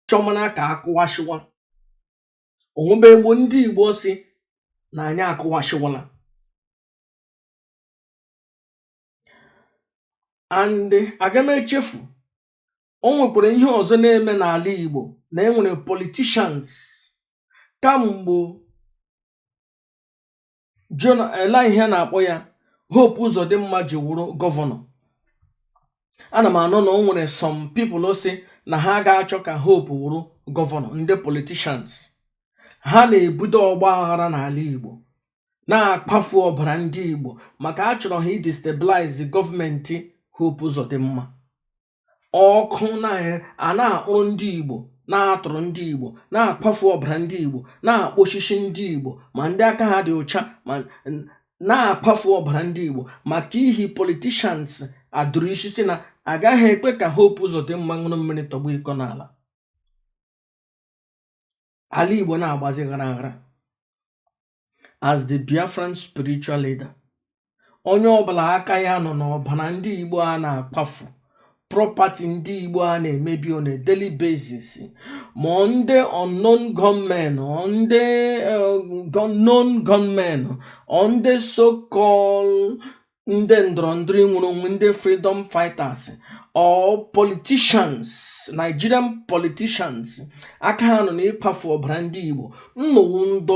chọmana ka akụwashiwa onwebe egbo ndị igbo sị na anyị akụwashiwala and aga m echefu o nwekwara ihe ọzọ na-eme n'ala igbo na e nwere politicians kamgbe Jona ele ihe a na-akpọ ya Hope Uzodimma ji wụrụ gọvanọ ana m anụ na o nwere some people sị na ha aga-achọ ka Hope wụrụ gọvanọ ndị politicians ha na-ebudo ọgba aghara n'ala Igbo na-akwafu ọbara ndị Igbo maka achọrọ ha ịdestabilize gọọmenti Hope Uzodimma ọkụ na a na-akpụrụ ndị Igbo na-atọrọ ndị Igbo na-akwafu ọbara ndị Igbo na-akpọchichi ndị Igbo ma ndị aka ha dị ụcha ma na-akwafu ọbara ndị Igbo maka ihi politicians a dụrụ isi sị na agaghị ekwe ka Hope Uzodimma ṅụrụ mmiri tọgbọ iko n'ala ala Igbo na-agbazi ghara ghara as the Biafran spiritual leader onye ọbụla aka ya nọ n'ọbara ndị Igbo a na-akwafu property ndị Igbo a na-emebi on a daily basis ma ndị unknown gunmen ndị eh, unknown gunmen ndị so-called ndị ndọrọ ndọrọ inwere onwe ndị freedom fighters or politicians nigerian politicians aka ha nọ n'ịkwafu ọbara ndị igbo ụnụ wụ ndị